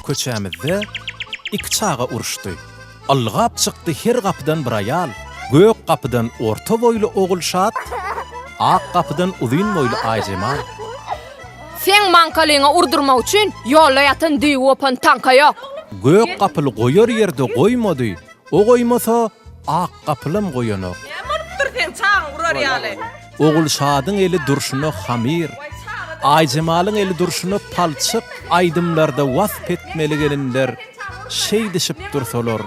Köçämizde iki çaga uruşdy. Ylgap çykdy her gapydan bir aýal, Gök gapydan orta boýly Ogulşat, Ak gapydan uzyn boýly Aýjemal. Seň maňkalyňa urdurmak üçin ýolda ýatan düýbi gopan taňka ýok. Gök gapyly goýar ýerde goýmady, o goýmasa, ak gapylam goýanok. Näme bolupdyr seň çagyň urar ýaly? Ogulşadyň eli durşuna hamyr, Aýjemalyň eli durşuna palçyk aýdymlarda wasp etmeli gelinler şeýdişip dursalar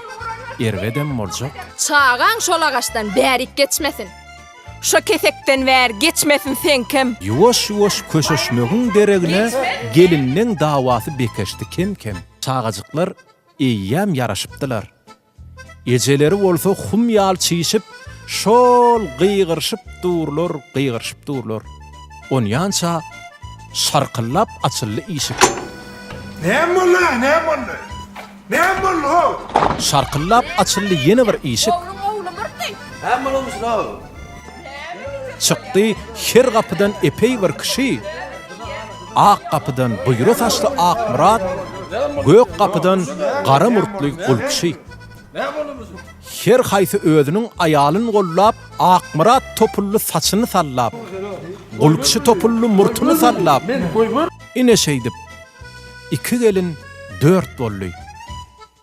erbedem boljak. Çagaň şol agaçdan bärik geçmesin. Şo kesekden bäri geçmesin seňkem. Ýuwaş-ýuwaş köşeşmegiň deregine gelinleň dawasy bekeşdi kem-kem. Çagajyklar eýýäm ýaraşypdylar. Ejeleri bolsa hum ýaly çişip, şol gygyryşyp durlar, gygyryşyp durlar. Onýança şarkyllap açyldy işik. Näme boldy, a, näme boldy? Näme boldy, ho? Şarkyllap açyldy ýene bir işik. Ogluň ogly myrty! Näme bolanmyşyn, ho? Çykdy her gapydan epeý bir kişi. Ak gapydan buýra saçly Akmyrat, gök gapydan gara murtly Gulkşy. Her haýsy özüniň aýalyn gollap, Akmyrat topully saçyny sallap, Gulkşy topully murtuny sallap, ine şeýdip, iki gelin dört boldy.